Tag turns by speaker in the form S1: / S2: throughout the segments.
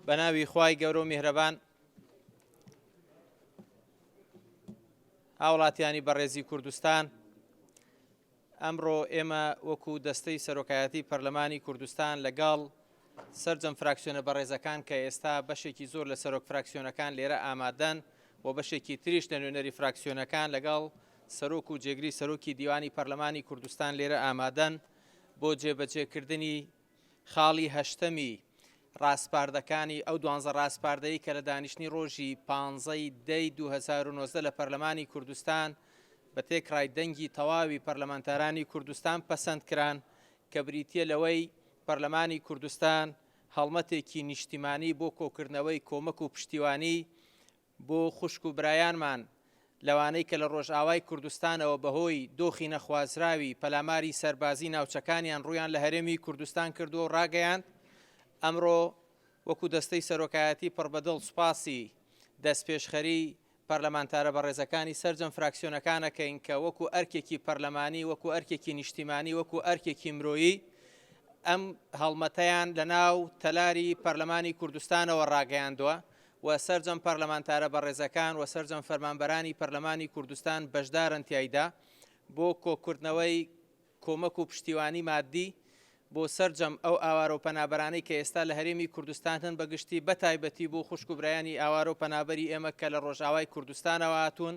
S1: بەناوی خوای گەورە و میهرەبان هاوڵاتیانی بەڕێزی کوردستان ئەمڕۆ ئێمە وەکو دەستەی سەرۆکایەتی پەرلەمانی کوردستان لەگەڵ سرجەم فراکسیۆنە بەڕێزەکان کە ئێستا بەشێکی زۆر لە سەرۆک فراکسیۆنەکان لێرە ئامادەن و بەشێکی تریش لە نوێنەری فراکسیۆنەکان لەگەڵ سەرۆک و جێگری سەرۆکی دیوانی پەرلەمانی کوردستان لێرە ئامادەن بۆ جێبەجێکردنی خاڵی هەشتەمی ڕاسپاردەکانی ئەو دوانزە ڕاسپاردەی کە لە دانیشتنی ڕۆژی پانزەی دەی دوو هەزار و نۆزدە لە پەرلەمانی کوردستان بە تێکڕای دەنگی تەواوی پەرلەمانتارانی کوردستان پەسەند کران کە بریتییە لەوەی پەرلەمانی کوردستان هەڵمەتێکی نیشتیمانی بۆ کۆکردنەوەی کۆمەک و پشتیوانی بۆ خوشک و برایانمان لەوانەی کە لە ڕۆژئاوای کوردستانەوە بەهۆی دۆخی نەخوازراوی پەلاماری سەربازی ناوچەکانیان ڕوویان لە هەرێمی کوردستان کردووە و ڕاگەیاند ئەمڕۆ وەکو دەستەی سەرۆکایەتی پڕ بەدڵ سوپاسی دەستپێشخەری پەرلەمانتارە بەڕێزەکانی سەرجەم فراکسیۆنەکانەکەین کە وەکو ئەرکێکی پەرلەمانی وەکو ئەرکێکی نیشتیمانی وەکو ئەرکێکی مرۆیی ئەم هەڵمەتەیان لە ناو تەلاری پەرلەمانی کوردستانەوە ڕاگەیاندووە و سەرجەم پەرلەمانتارە بەڕێزەکان و سەرجەم فەرمانبەرانی پەرلەمانی کوردستان بەشدارن تیایدا بۆ کۆکردنەوەی کۆمەک و پشتیوانی مادی بۆ سەرجەم ئەو ئاوارە و پەنابەرانەی کە ئێستا لە هەرێمی کوردستان هەن بەگشتی بەتایبەتی بۆ خوشک و برایانی ئاوارە و پەنابەری ئێمە کە لە ڕۆژئاوای کوردستانەوە هاتوون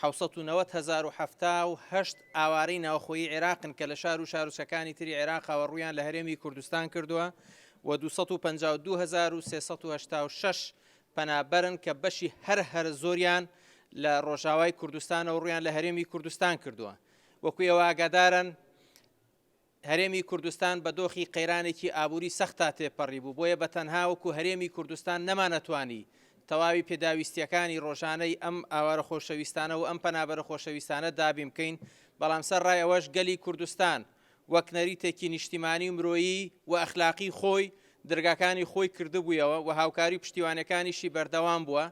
S1: حەوت سەد و نەوەد هەزار و حەفتا و هەشت ئاوارەی ناوخۆیی عێراقن کە لە شار و شارۆچکەکانی تری عێراقەوە ڕوویان لە هەرێمی کوردستان کردووە و دوو سەد و پەنجا و دوو هەزار و سێ سەد و هەشتا و شەش پەنابەرن کە بەشی هەر هەرە زۆریان لە ڕۆژاوای کوردستانەوە ڕوویان لە هەرێمی کوردستان کردووە وەکو ئێوە ئاگادارن هەرێمی کوردستان بە دۆخی قەیرانێکی ئابووری سەختدا تێپەڕی بوو، بۆیە بە تەنها وەکو هەرێمی کوردستان نەمانەتوانی تەواوی پێداویستییەکانی ڕۆژانەی ئەم ئاوارە خۆشەویستانە و ئەم پەنابەرە خۆشەویستانە دابین بکەین، بەڵام سەر ڕای ئەوەش گەلی کوردستان وەک نەریتێکی نیشتیمانی و مرۆیی و ئەخلاقی خۆی درگاکانی خۆی کردبوویەوە و هاوکاری و پشتیوانیەکانیشی بەردەوام بووە،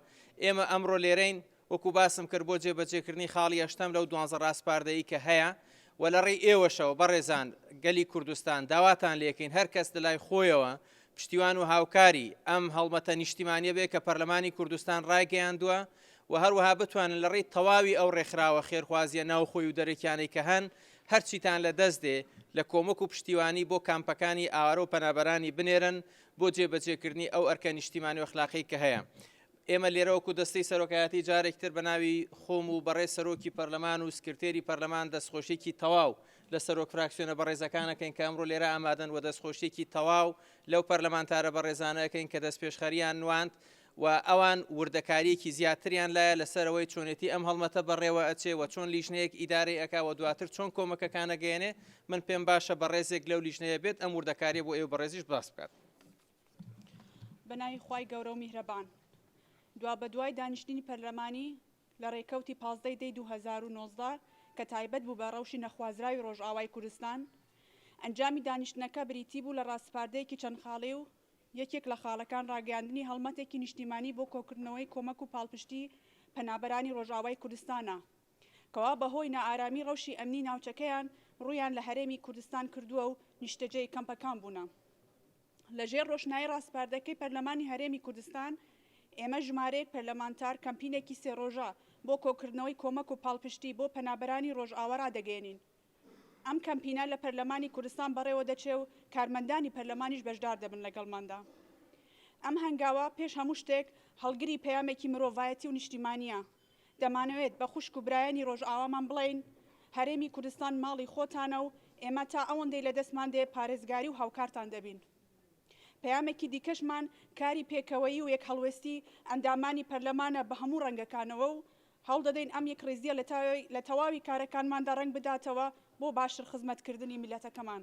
S1: ئێمە ئەمڕۆ لێرەین، وەکو باسم کرد بۆ جێبەجێکردنی خاڵی هەشتەم لەو دوانزە ڕاسپاردەی کە هەیە و لە ڕێی ئێوەشەوە بەڕێزان گەلی کوردستان داواتان لێکەین هەر کەس لە لای خۆیەوە پشتیوان و هاوکاری ئەم هەڵمەتە نیشتیمانیە بێ کە پەرلەمانی کوردستان ڕایگەیاندووە و هەروەها بتوانن لە ڕێی تەواوی ئەو ڕێکخراوە خێرخوازیە ناوخۆی و دەرەکیانەی کە هەن هەرچیتان لە دەست دێ لە کۆمەک و پشتیوانی بۆ کامپەکانی ئاوارە و پەنابەرانی بنێرن بۆ جێبەجێکردنی ئەو ئەرکە نیشتیمانی و ئەخلاقی کە هەیە ئێمە لێرە وەکو دەستەی سەرۆکایەتی جارێکی تر بە ناوی خۆم و بەڕێز سەرۆکی پەرلەمان و سکرتێری پەرلەمان دەستخۆشیێکی تەواو لە سەرۆک فراکسیۆنە بەڕێزەکانەکەین کە ئەمڕۆ لێرە ئامادەن و دەستخۆشیێکی تەواو لەو پەرلەمانتارە بەڕێزانەکەین کە دەست پێشخەریان نواند و ئەوان وردەکاریەکی زیاتریان لایە لەسەرەوەی چۆنێتی ئەم هەڵمەتە بەڕێوە ئەچێ و چۆن لیژنەیەک ئیدارەی ئەکا و دواتر چۆن کۆمەکەکانە گەێنێ من پێم باشە بەڕێزێک لەو لیژنەیە بێت ئەم وردەکاریە بۆ ئێو بەڕێزیش باس بکات. بەناوی
S2: خوای گەورە و میهرەبان. دوابەدوای دانیشتنی پەرلەمانی لە رێکەوتی پازدە ی دەی دوو هەزار و نۆزدە کە تایبەت بوو بە رەوشی نەخوازراوی رۆژئاوای کوردستان، ئەنجامی دانیشتنەکە بریتی بوو لە راسپاردەیەکی چەند خاڵی و یەکێک لە خاڵەکان راگەیاندنی هەڵمەتێکی نیشتیمانی بۆ کۆکردنەوەی کۆمەک و پاڵپشتی پەنابەرانی رۆژئاوای کوردستانە کەوا بەهۆی نائارامی رەوشی ئەمنی ناوچەکەیان روویان لە هەرێمی کوردستان کردووە و نیشتەجێی کەمپەکان بوونە. لە ژێر ڕۆشنایی ڕاسپاردەکەی پەرلەمانی هەرێمی کوردستان، ئێمە ژمارەیەک پەرلەمانتار کەمپینێکی سێ ڕۆژە بۆ کۆکردنەوەی کۆمەک و پاڵپشتی بۆ پەنابەرانی ڕۆژئاوا ڕادەگەیەنین. ئەم کەمپینە لە پەرلەمانی کوردستان بەڕێوە دەچێ و کارمەندانی پەرلەمانیش بەشدار دەبن لەگەڵماندا. ئەم هەنگاوە پێش هەموو شتێک هەڵگری پەیامێکی مرۆڤایەتی و نیشتیمانییە. دەمانەوێت بە خوشک و برایانی رۆژئاوامان بڵێین، هەرێمی کوردستان ماڵی خۆتانە و ئێمە تا ئەوەندەی لە دەستمان دێ پارێزگاری و هاوکارتان دەبین. پەیامێکی دیکەشمان کاری پێکەوەیی و یەکهەڵوێستی ئەندامانی پەرلەمانە بە هەموو رەنگەکانەوە و هەوڵدەدەین ئەم یەکڕیزییە لە تەواوی کارەکانماندا رەنگ بداتەوە بۆ باشتر خزمەتکردنی میللەتەکەمان.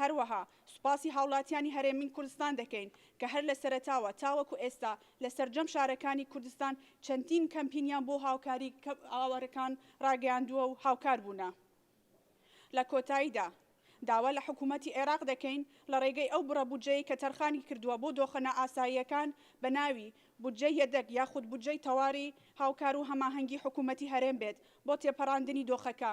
S2: هەروەها سوپاسی هاوڵاتیانی هەرێمین کوردستان دەکەین کە هەر لە سەرەتاوە تاوەکو ئێستا لە سەرجەم شارەکانی کوردستان چەندین کەمپینیان بۆ هاوکاری ئاوارەکان ڕاگەیاندووە و هاوکار بوونە. لە کۆتاییدا داوا لە حکوومەتی عێراق دەکەین لە ڕێگەی ئەو بڕە بودجەی کە تەرخانی کردووە بۆ دۆخە نائاساییەکان بە ناوی بودجەی یەدەگ یاخود بودجەی تەواری هاوکار و هەماهەنگی حکوومەتی هەرێم بێت بۆ تێپەڕاندنی دۆخەکە.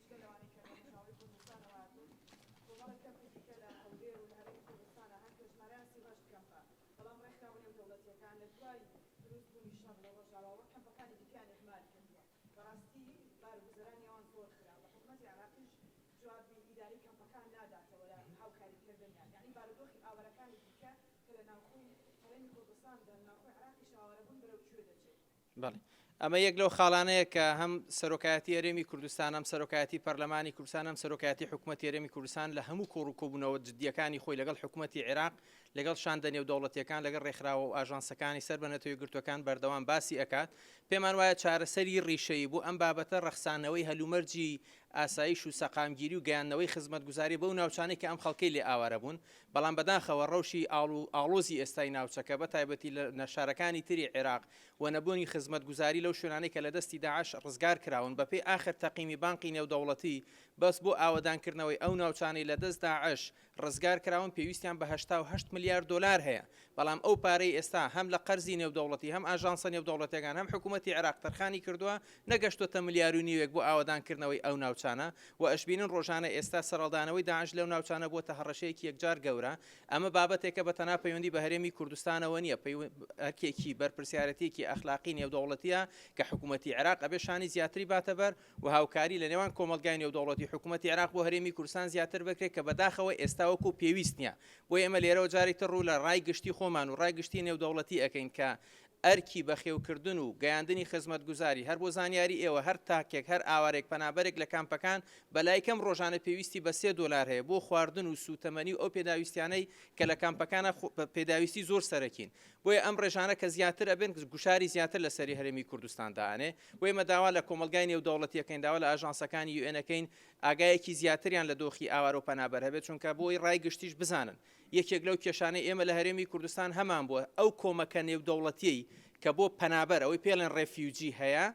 S2: جگە لەوانەی کە لەڕۆژئاوای کوردستان و هاتوون، کۆمەڵێک کەمپی دیکە لە هەولێر و لە هەرێمی کوردستان هەن کە ژمارەیان سی و هەشت کەمپە، بەڵام ڕێکخراوە نێودەوڵەتییەکان لە دوای دروستبوونی شەڕ لە ڕۆژئاواوە کەمپەکانی دیکەیان
S1: ئیهمال کردووە، بەڕاستی بار و گوزەرانی ئەوان زۆر خراپە، حکومەتی عێراقیش جوابی ئیدارەی کەمپەکان ناداتەوە لە هاوکاریکردنیان، یەعنی بارودۆخی ئاوارەکانی دیکە کە لە ناوخۆی هەرێمی کوردستان دەن، ناوخۆی عێراقیش ئاوارەبوون بەرەو کوێ دەچێت؟ بەڵێ ئەمە یەک لەو خاڵانەیە کە هەم سەرۆکایەتی هەرێمی کوردستان هەم سەرۆکایەتی پەرلەمانی کوردستان هەم سەرۆکایەتی حکوومەت هەرێمی کوردستان لە هەموو کۆڕ و کۆبوونەوە جددیەکانی خۆی لەگەڵ حکوومەتتی عێراق لەگەڵ شاندە نێودەوڵەتیەکان لەگەڵ ڕێکخراوە و ئاژانسەکانی سەر بە نەتەوەی گرتوەکان بەردەوام باسی ئەکات پێمان وایە چارەسەری ڕیشەیی بۆ ئەم بابەتە ڕەخسانەوەی هەلومەرجی ئاسایش و سەقامگیری و گەیاندنەوەی خزمەتگوزاری بەو ناوچانەی کە ئەم خەڵکەی لێ ئاوارە بوون بەڵام بەداخەوە ڕەوشی ئاڵ و ئاڵۆزی ئێستای ناوچەکە بە تایبەتی لە نەشارەکانی تری عێراق و نەبوونی خزمەتگوزاری لەو شوێنانەی کە لە دەستی داعش ڕزگار کراون بەپێی ئاخر تەقیمی بانقی نێودەوڵەتی بەس بۆ ئاوەدان کردنەوەی ئەو ناوچانەی لە دەست داعش ڕزگار کراون پێویستیان بە هەشتا و هەشت ملیار دۆلار هەیە بەڵام ئەو پارەی ئێستا هەم لە قەرزی نێودەوڵەتی هەم ئاژانسە نێودەوڵەتیەکان هەم حکومەتی عێراق تەرخانی کردووە نەگەشتۆتە ملیار و نیوێک بۆ ئاوەدان کردنەوەی ئەو ناوچانە و ئەشبینن ڕۆژانە ئێستا سەرەڵدانەوەی داعش لەو ناوچانە بۆتە هەڕەشەیەکی یەکجار گەورە ئەمە بابەتێکە بە تەنها پەیوەندی بە هەرێمی کوردستانەوە نییە ئەرکێکی بەرپرسیارەتێکی ئەخلاقی نێودەوڵەتیە کە حکوومەتتی عراق ئەبێ شانی زیاتری باتەبەر و هاوکاری لە نێوان کۆمەلگای نێودەوڵەتی حکوومەتتی عراق بۆ هەرێمی کورسان زیاتر بکرێت کە بەداخەوە ئێستاوەکو پێویست نیە بۆ ئێمە لێرەوە جارێکتر ڕوو لە ڕای گشتی خۆمان و ڕای گشتی نێودەوڵەتی ئەەکەین کە ئەرکی بەخێوکردن و گەیاندنی خزمەتگوزاری، هەر بۆ زانیاری ئێوە هەر تاکێک، هەر ئاوارێک پەنابەرێک لە کامپەکان بەلای کەم ڕۆژانە پێویستی بە سێ دۆلار هەیە بۆ خواردن و سوتەمەنی و ئەو پێداویستیانەی کە لە کامپەکانا پێداویستی زۆر سەرەکین بۆیە ئەم ڕێژانە کە زیاتر ئەبن گوشاری زیاتر لە سەری هەرێمی کوردستان دائەنێ و ئێمە داوا لە کۆمەڵگای نێودەوڵەتی ئەکەین داوا لە ئاژانسەکانی یوئێن ئەکەین ئاگایەکی زیاتریان لە دۆخی ئاوارە و پەنابەر هەبێت چونکە بۆی ڕای گشتیش بزانن. یەکێک لەو کێشانەی ئێمە لە هەرێمی کوردستان هەمان بووە، ئەو کۆمەکە نێودەوڵەتیەی کە بۆ پەنابەر، ئەوەی پێڵێن ڕێفیوجی هەیە،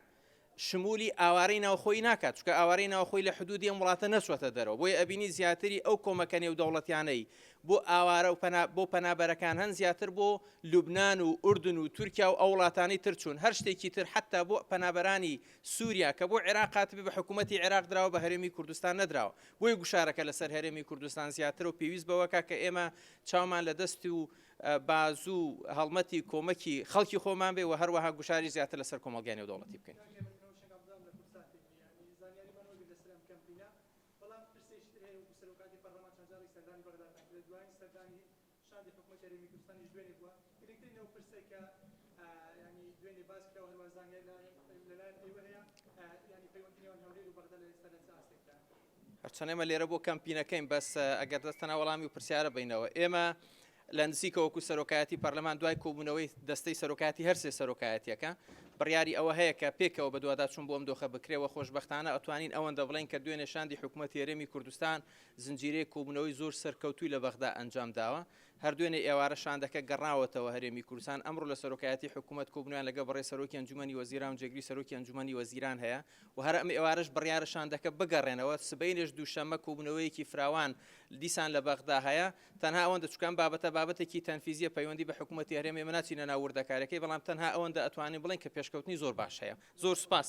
S1: شمولی ئاوارەی ناوخۆی ناکات، چونکە ئاوارەی ناوخۆی لە حدودی ئەم وڵاتە نەچوەتە دەرەوە، بۆیە ئەبینی زیاتری ئەو کۆمەکە نێودەوڵەتیانەی بۆ ئاوارە و بۆ پەنابەرەکان هەن زیاتر بۆ لوبنان و ئوردن و تورکیا و ئەو وڵاتانی تر چوون، هەر شتێکی تر حەتا بۆ پەنابەرانی سوریا کە بۆ عێراق هاتبێ بە حکومەتی عێراق دراوە بە هەرێمی کوردستان نەدراوە. بۆیە گوشارەکە لەسەر هەرێمی کوردستان زیاترە و پێویست بەوەکە کە ئێمە چاومان لە دەست و بازوو هەڵمەتی کۆمەکی خەڵکی خۆمان بێ و هەروەها گوشاری زیاتر لەسەر کۆمەلگای نێودەوڵەتی بکەین. شاندی حکومەت هەرێمی کوردستانیش دوێنێ بووە، گرنگترین ئەو پرسەی کە یانی دوێنێ باس کرا و هەروە زانیاری لە لە لایەن ئێوە هەیە یانی پەیوەندی نێوان هەولێر و بەغدا لە ئێستا لە چ ئاستێکدایە؟ هەرچەند ئێمە لێرە بۆ کەمپینەکەین بەس ئەگەر دەست تەنها وەڵامی و پرسیارە بەینەوە ئێمە لە نزیکە وەکو سەرۆکایەتی پەرلەمان دوای کۆبوونەوەی دەستەی سەرۆکاتی هەرسێ سەرۆکایەتەکە بڕیاری ئەوە هەیە کە پێکەوە بەدواداچون بۆم دۆخە بکرێەوە خۆشببختانە ئەتوانین ئەوەندە بڵین کە دوێنێ شاندی حکوومەت هێرێمی کوردستان زنجیرەیەک کۆبوونەوەی زۆر سەرکەوتووی لە بەغدا ئەنجام داوە. هەر دوێنێ ئێوارە شاندەکە گەڕاوەتەوە هەرێمی کوردستان. ئەمڕۆ لە سەرۆکایەتیی حکوومەت کۆبوونەوەیان لەگەڵ بەڕێز سەرۆکی ئەنجوومەنی وەزیران و جێگری سەرۆکی ئەنجوومەنی وەزیران هەیە و هەر ئەم ئێوارەش بڕیارە شاندەکە بگەڕێنەوە. سبەینێش دووشەممە کۆبوونەوەیەکی فراوان دیسان لە بەغدا هەیە. تەنها ئەوەندە چونکە ئەم بابەتە بابەتێکی تەنفیزییە پەیوەندی بە حکوومەتی هەرێمە ئێمە ناچینە ناو وردەکارییەکەی بەڵام تەنها ئەوەندە ئەتوانین بڵێین کە پێشکەوتنی زۆر باش هەیە. زۆر سوپاس.